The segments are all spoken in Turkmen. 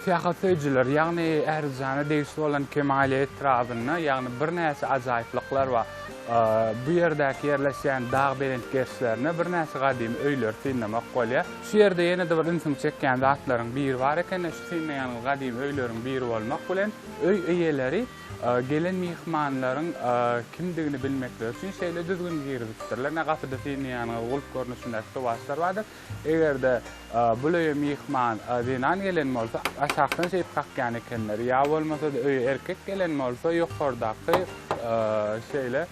Syýahat söýüjiler, ýagny Ählijana degişli bolan Kemaýli etrabynda, ýagny birnäçe ajaýyplyklar bar. Bu ýerdäki ýerleşýän dag belent gerşlerinde birnäçe gadymy öýleri synlamak bolýar. Şu ýerde ýene-de bir ünsüňi çekýän zatlaryň biri bar eken-de, şu synlaýanyňyz gadymy öýleriň biri bolmak bilen, öý eýeleri Gelen myhmanlaryň kimdigini bilmekleri üçin şeýle düzgün girizipdirler. Ine, gapyda siziň ýanyňyzda gulp görnüşindäki towaçlar bardyr. Eger-de bul öýe myhman zenan gelen bolsa, aşakdan şeýdip kakýan ekenler. Ýa bolmasa-da öýe erkek gelen bolsa, ýokardaky şeýle.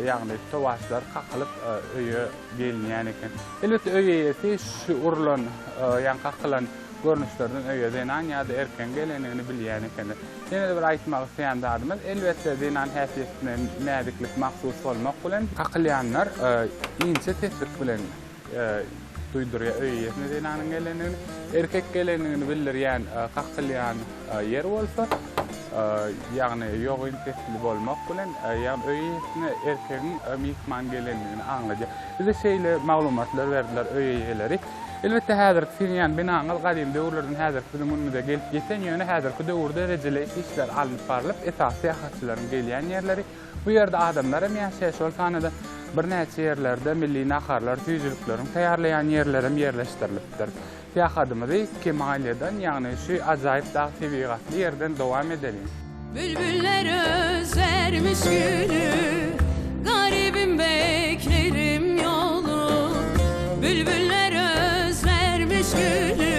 Ýagny towaşlar kakylyp öýe gelinýän eken. Elbetde öý eýesi şu urlan, ýagny kakylan görnüşlerden öýe zenan ýa-da erkegiň gelendigini bilýän eken. Ýene-de bir aýtmak isleýän zadymyz, elbetde zenan häsiýetine näziklik mahsus bolmak bilen, kakylýanlar inçe seslik bilen, Duýdurýar öý eýesine zenanyň gelendigini. Erkek gelendigini bildirýän kakylýan ýer bolsa, ýagny ýogyn sesli bolmak bilen, ýagny öý eýesine erkegiň myhman gelendigini aňladýar. Bize şeýle maglumatlary berdiler öý eýeleri. Elbetde häzirki siziň ýan binaňyz gadymy döwürlerden häzirki biziň günümize gelip ýeten, ýöne häzirki döwürde rejeleýiş işleri alnyp barlyp, esasy syýahatçylaryň gelýän ýerleri, Bu ýerde adamlar hem ýaşaýar, şol sanda birnäçe ýerlerde milli naharlar, süýjülikleriň taýýarlaýan ýerleri hem ýerleşdirilipdir. Syýahatymyzy Kemalýadan, ýagny şu ajaýyp dag tebigatly ýerden dowam edeliň. Bülbüller özlermiş güli, Garybym beklerim ýoly. Bülbüller özlermiş güli,